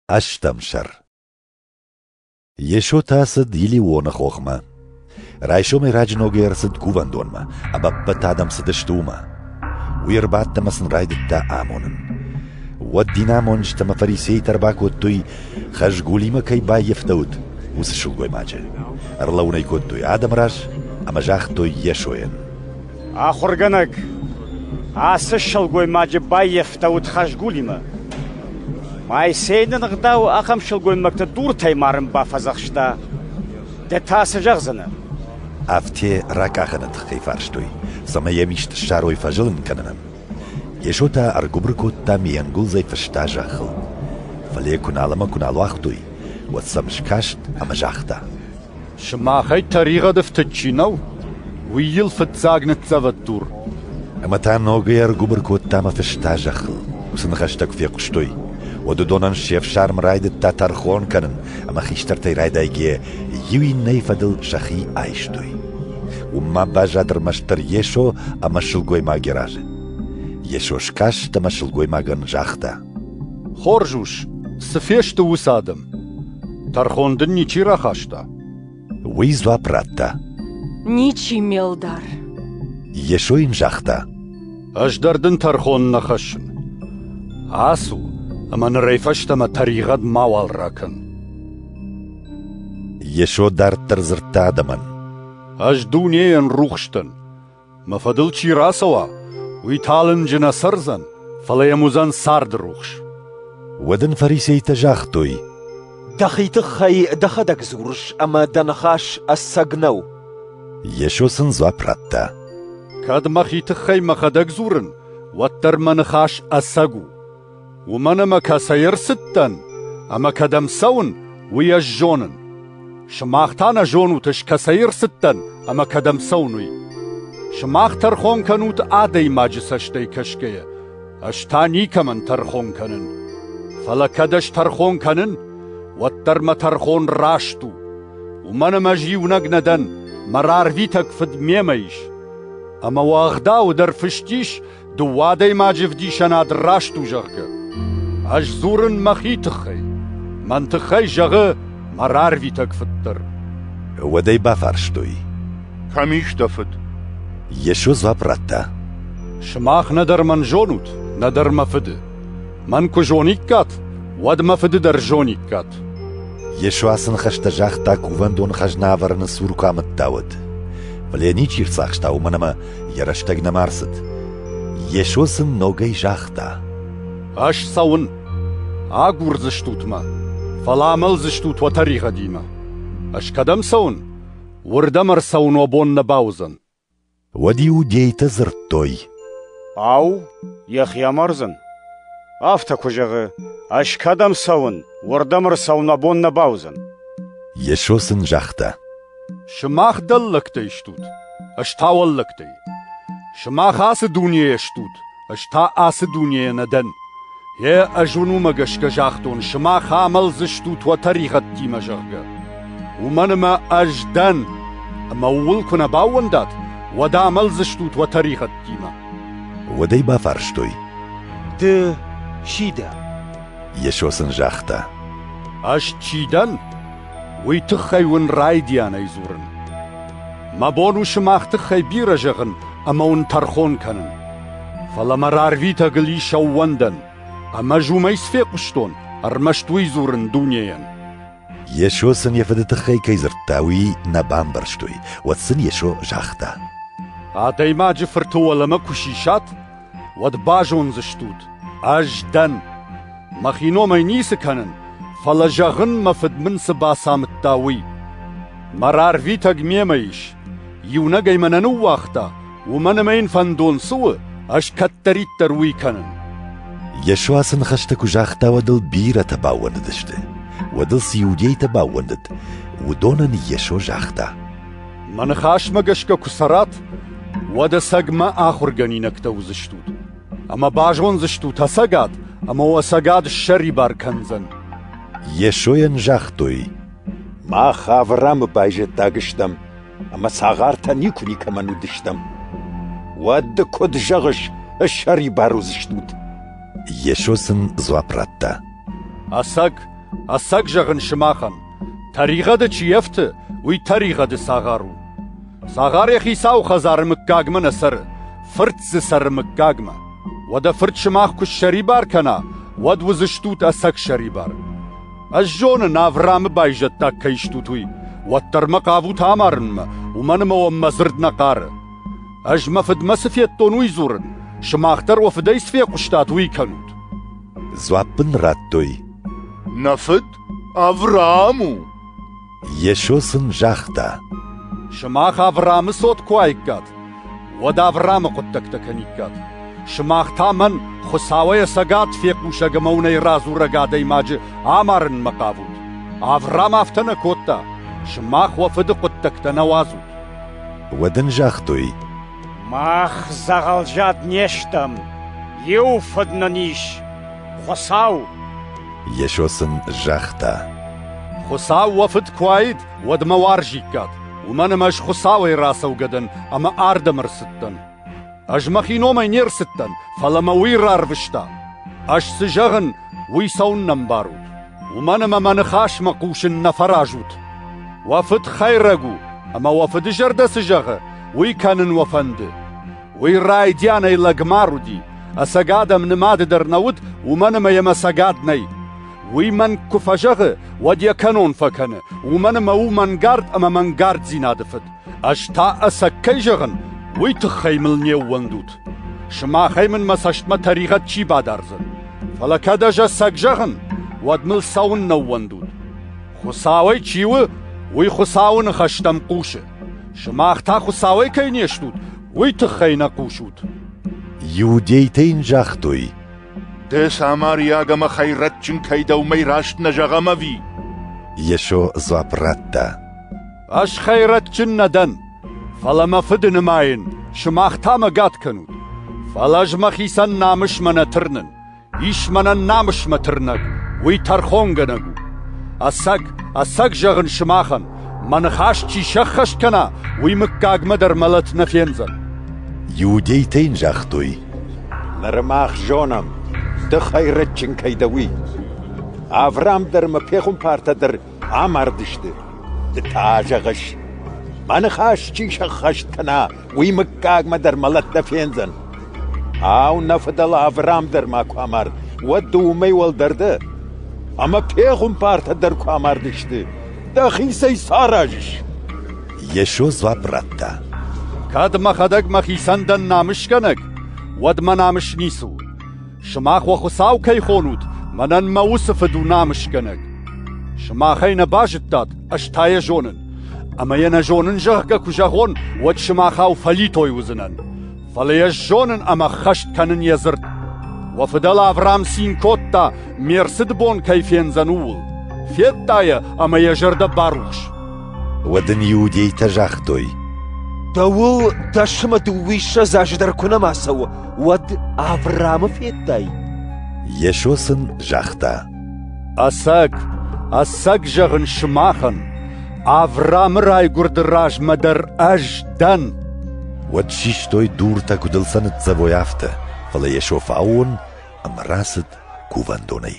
Ӕстӕм сӕр Йесо та цыд Илионы хохмӕ. Райсомӕй раджы ногӕй ӕрцыд кувӕндонмӕ, ӕмӕ ӕппӕт адӕм цыдысты уымӕ. Уый ӕрбадт ӕмӕ сын райдыдта амонын. Уӕд динамонджытӕ ӕмӕ фарисейтӕ ӕрбакодтой, хӕзгулимӕ кӕй баййӕфтӕуыд, уыцы сылгоймаджы. Ӕрлӕуын ӕй кодтой адӕмы раз ӕмӕ загътой Йесойӕн: Ахуыргӕнӕг, ацы сылгоймаджы баййӕфтӕуыд хӕзгулимӕ. Моисей нын ӕгъдауы ахӕм сылгоймӕгты дуртӕй марын бафӕдзӕхста. Ды та цы зӕгъдзынӕ? Афтӕ ракъахыны тыххӕй фарстой, цӕмӕй йӕм ист ссарой фӕзылын кӕнынӕн. Йесо та ӕргуыбыр кодта ме ӕнгуылдзӕй фыста зӕххыл. Фӕлӕ куы нал ӕмӕ куы нал уагътой, уӕд сӕм скаст ӕмӕ загъта: Сымахӕй тӕригъӕды фтыд чи нӕу, уый йыл фыццаг ныццӕвӕд дур. Ӕмӕ та ногӕй ӕргуыбыр кодта мӕ фыста зӕххыл. Уыцы ныхӕстӕ куы фехъуыстой, уӕд уыдонӕн се фсарм райдыдта тӕрхон кӕнын, ӕмӕ хистӕртӕй райдайгӕ иу иннӕйы фӕдыл сӕхи айстой. Уым ма баззад ӕрмӕстдӕр Йесо ӕмӕ сылгоймаги разы. Йесо скаст ӕмӕ сылгоймагӕн загъта: «Хорз ус, цы фесты уыцы адӕм? Тӕрхон дын ничи рахаста? Уый дзуапп радта. Ничи, Мелдар. Йесо йын загъта. Ӕз дӕр дын тӕрхон нӕ хӕссын. Ацу ӕмӕ нырӕй фӕстӕмӕ тӕригъӕд мауал ракӕн. Йесо дарддӕр дзырдта адӕмӕн. Ӕз дунейӕн рухс дӕн, Мӕ фӕдыл чи рацӕуа, уый талынджы нӕ цӕрдзӕн, фӕлӕ йӕм уыдзӕн царды рухс. Уӕд ын фарисейтӕ загътой, Дӕхи тыххӕй дӕхӕдӕг дзурыс, ӕмӕ дӕ ныхас ӕцӕг нӕу. Йесо сын дзуапп радта, Кӕд мӕхи тыххӕй мӕхӕдӕг дзурын, уӕддӕр мӕ ныхас ӕцӕг у. Уымӕн ӕмӕ кӕцӕй ӕрцыдтӕн ӕмӕ кӕдӕм цӕуын, уый ӕз зонын. Сымах та нӕ зонут, ӕз кӕцӕй ӕрцыдтӕн ӕмӕ кӕдӕм цӕуын, уый. Сымах тӕрхон кӕнут адӕймаджы цӕстӕй кӕсгӕйӕ, ӕз та никӕмӕн тӕрхон кӕнын. Фӕлӕ кӕд ӕз тӕрхон кӕнын, уӕддӕр мӕ тӕрхон раст у. Уымӕн ӕмӕ ӕз иунӕг нӕ дӕн, мӕ рарвитӕг фыд мемӕ ис. Ӕмӕ уӕгъдауы дӕр фыст ис, дыууӕ адӕймаджы вдисӕнад раст у, зӕгъгӕ. Ӕз дзурын мӕхи тыххӕй. Мӕн тыххӕй зӕгъы мӕ рарвитӕг фыд дӕр. Уӕд ӕй бафарстой. Кӕм ис дӕ фыд? Йесо дзуапп радта. Сымах нӕдӕр мӕн зонут, нӕдӕр мӕ фыды. Мӕн куы зониккат, уӕд мӕ фыды дӕр зониккат. Йесо ацы ныхӕстӕ загъта кувӕндоны хӕзна ӕвӕрыны цур куы амыдта, уӕд. Фӕлӕ йӕ ничи ӕрцахста, уымӕн ӕмӕ йӕ рӕстӕг нӕма рцыд. Йесо сын ногӕй загъта: «Ӕз цӕуын. Агурдзыстут мӕ, фӕлӕ амӕлдзыстут уӕ тӕригъӕдимӕ. Ӕз кӕдӕм цӕуын? Уырдӕм ӕрцӕуын уӕ бон нӕ бауыдзӕн». Уӕд иудейтӕ дзырдтой: «Ау, йӕхи амардзӕн? Афтӕ куы зӕгъы, ӕз кӕдӕм цӕуын, уырдӕм ӕрцӕуын уӕ бон нӕ бауыдзӕн». Йесо сын загъта: Сымах дӕллӕгтӕй стут, ӕз та уӕллӕгтӕй. Сымах ацы дунейӕ стут, ӕз та ацы дунейӕ нӕ дӕн. Гъе, ӕз уын уымӕ гӕсгӕ загътон, сымах амӕлдзыстут уӕ тӕригъӕдтимӕ, зӕгъгӕ. Уымӕн ӕмӕ ӕз дӕн, ӕмӕ ууыл куы нӕ баууӕндат, уӕд амӕлдзыстут уӕ тӕригъӕдтимӕ. Уӕд ӕй бафарстой. Ды чи дӕ? Йесо сын загъта. Ӕз чи дӕн? Уый тыххӕй уын райдианӕй дзурын. Мӕ бон у сымах тыххӕй бирӕ зӕгъын ӕмӕ уын тӕрхон кӕнын. Фӕлӕ мӕ рарвитӕгыл ис ӕууӕндӕн, ӕмӕ ӕз уымӕй цы фехъуыстон, ӕрмӕст уый дзурын дунейӕн. Йесо сын йӕ фыды тыххӕй кӕй дзырдта, уый нӕ бамбӕрстой. Уӕд сын Йесо загъта: «Адӕймаджы фырты уӕлӕмӕ куы сисат, уӕд базондзыстут, ӕз дӕн. Мӕхи номӕй ницы кӕнын, фӕлӕ зӕгъын, мӕ фыд мын цы бацамыдта, уый. Мӕ рарвитӕг мемӕ ис. Иунӕг ӕй мӕнӕ ныууагъта, уымӕн ӕмӕ йын фӕндон цы у, ӕз кӕддӕриддӕр уый кӕнын. Йесо ацы ныхӕстӕ куы загъта, уӕд ыл бирӕтӕ баууӕндыдысты. Уӕд ыл цы иудейтӕ баууӕндыд, уыдонӕн Йесо загъта. Мӕ ныхасмӕ гӕсгӕ куы цӕрат, уӕд ӕцӕгмӕ ахуыргӕнинӕгтӕ уыдзыстут, ӕмӕ базондзыстут ӕцӕгад, ӕмӕ уӕ цӕгат ссӕрибар кӕндзӕн. Йесойӕн загътой, «Мах Авраамы байзӕддаг стӕм, ӕмӕ цагъартӕ никуы никӕмӕн уыдыстӕм. Уӕд ды куыд зӕгъыс, ссӕрибар уыдзыстут?» Йесо сын дзуапп радта, «Ӕцӕг, ӕцӕг зӕгъын сымахӕн, Тӕригъӕды чи ӕфты, уый тӕригъӕды цагъар у. Цагъар йӕ хицауы хӕдзары мыггагмӕ нӕ цӕры, фырт дзы цӕры мыггагмӕ. Уӕдӕ фырт сымах куы ссӕрибар кӕна, уӕд уыдзыстут ӕцӕг сӕрибар. Ӕз зонын, Авраамы байзӕддаг кӕй стут, уый, уӕддӕр мӕ хъавут амарынмӕ, уымӕн ӕмӕ уӕм мӕ дзырд нӕ хъары. Ӕз мӕ фыдмӕ цы федтон, уый дзурын, сымах дӕр уӕ фыдӕй цы фехъуыстат, уый кӕнут. Дзуапп ын радтой. Нӕ фыд? Авраам у? Йесо сын загъта. Сымах Авраамы цот куы уаиккат, уӕд Авраамы хъуыддӕгтӕ кӕниккат. Сымах та мӕн Хуыцауӕй ӕцӕгад фехъусӕг ӕмӕ уынӕй радзурӕг адӕймаджы амарынмӕ хъавут. Авраам афтӕ нӕ кодта, сымах уӕ фыды хъуыддӕгтӕ нӕ уадзут. Уӕд ын загътой, Мах дзӕгъӕлзад не стӕм, иу фыд нын ис — Хуыцау! Йесо сын загъта. Хуыцау уӕ Фыд куы уаид, уӕд мӕ уарзиккат, уымӕн ӕмӕ ӕз Хуыцауӕй рацӕугӕ дӕн ӕмӕ ардӕм ӕрцыдтӕн. Ӕз мӕхи номӕй не рцыдтӕн, фӕлӕ мӕ Уый рарвыста. Ӕз цы зӕгъын, уый цӕуыннӕ ӕмбарут? Уымӕн ӕмӕ мӕ ныхасмӕ хъусын нӕ фӕразут. Уӕ фыд хӕйрӕг у, ӕмӕ уӕ фыды зӕрдӕ цы зӕгъы, уый кӕнын уӕ фӕнды. Уый райдианӕй лӕгмар уыди, ӕцӕг адӕм нымады дӕр нӕ уыд, уымӕн ӕмӕ йӕ мӕ цӕгат нӕй. Уый мӕн куы фӕзӕгъы, уӕд йӕ кӕнон фӕкӕны, уымӕн ӕмӕ у мӕнгард ӕмӕ мӕнгарддзинады фыд. Ӕз та ӕцӕг кӕй зӕгъын, уый тыххӕй мыл не ууӕндут. Сымахӕй мын мӕ цӕстмӕ тӕригъӕд чи бадардзӕн. Фӕлӕ кӕд ӕз ӕцӕг зӕгъын, уӕд мыл цӕуыннӕ ӕууӕндут? Хуыцауӕй чи у, уый Хуыцауы ныхӕстӕм хъусы. Сымах та Хуыцауӕй кӕй не стут, уый тыххӕй нӕ хъусут. Иудейтӕ йын загътой. Ды самариаг ӕмӕ хӕйрӕджджын кӕй дӕ, уымӕй раст нӕ зӕгъӕм ӕви? Йесо дзуапп радта. Ӕз хӕйрӕджджын нӕ дӕн, фӕлӕ мӕ фыды нымайын, сымах та мӕгӕт кӕнут. Фӕлӕ ӕз мӕхицӕн намысмӕ нӕ тырнын. Ис мӕнӕн намысмӕ тырнӕг, уый тӕрхонгӕнӕг у. Ӕцӕг, ӕцӕг зӕгъын сымахӕн, мӕ ныхас чи сӕххӕст кӕна, уый мыггагмӕ дӕр мӕлӕт нӕ фендзӕн. Иудейтӕ йын загътой: Ныр мах зонӕм, ды хӕйрӕджджын кӕй дӕ, уый. Авраам дӕр ӕмӕ пехуымпартӕ дӕр Амардысты, ды та зӕгъыс, мӕ ныхас чи сӕххӕст кӕна, уый мыггагмӕ дӕр мӕлӕт нӕ фендзӕн. Ау, нӕ фыдӕл Авраам дӕр ма куы амард, уӕд ды уымӕй уӕлдӕр дӕ? Ӕмӕ пехуымпартӕ дӕр куы амардысты, дӕхицӕй цы аразыс? Йесо дзуапп радта. Кӕд мӕхӕдӕг мӕхицӕн дӕн намысгӕнӕг, уӕд мӕ намыс ницы у. Сымах уӕ Хуыцау кӕй хонут, мӕнӕн мӕ уыцы фыд у намысгӕнӕг. Сымахӕй нӕ базыдтат, ӕз та йӕ зонын. Ӕмӕ йӕ нӕ зонын, зӕгъгӕ куы зӕгъон, уӕд сымахау фӕлитой уыдзынӕн. Фӕлӕ ӕз зонын ӕмӕ ххӕст кӕнын йӕ дзырд. Уӕ фыдӕл Авраам цин кодта, ме рцыды бон кӕй фендзӕн, ууыл. Федта йӕ ӕмӕ йӕ зӕрдӕ барухс. Уӕд ын иудейтӕ загътой: Дӕуыл дӕсӕмӕ дыууиссӕдз азы дӕр куы нӕма цӕуы, уӕд Авраамы федтай? Йесо сын загъта: Ӕцӕг, ӕцӕг зӕгъын сымахӕн, Авраамы райгуырды размӕ дӕр ӕз дӕн. Уӕд систой дуртӕ, куыд ыл сӕ ныццӕвой, афтӕ, фӕлӕ Йесо фӕаууон ӕмӕ рацыд кувӕндонӕй.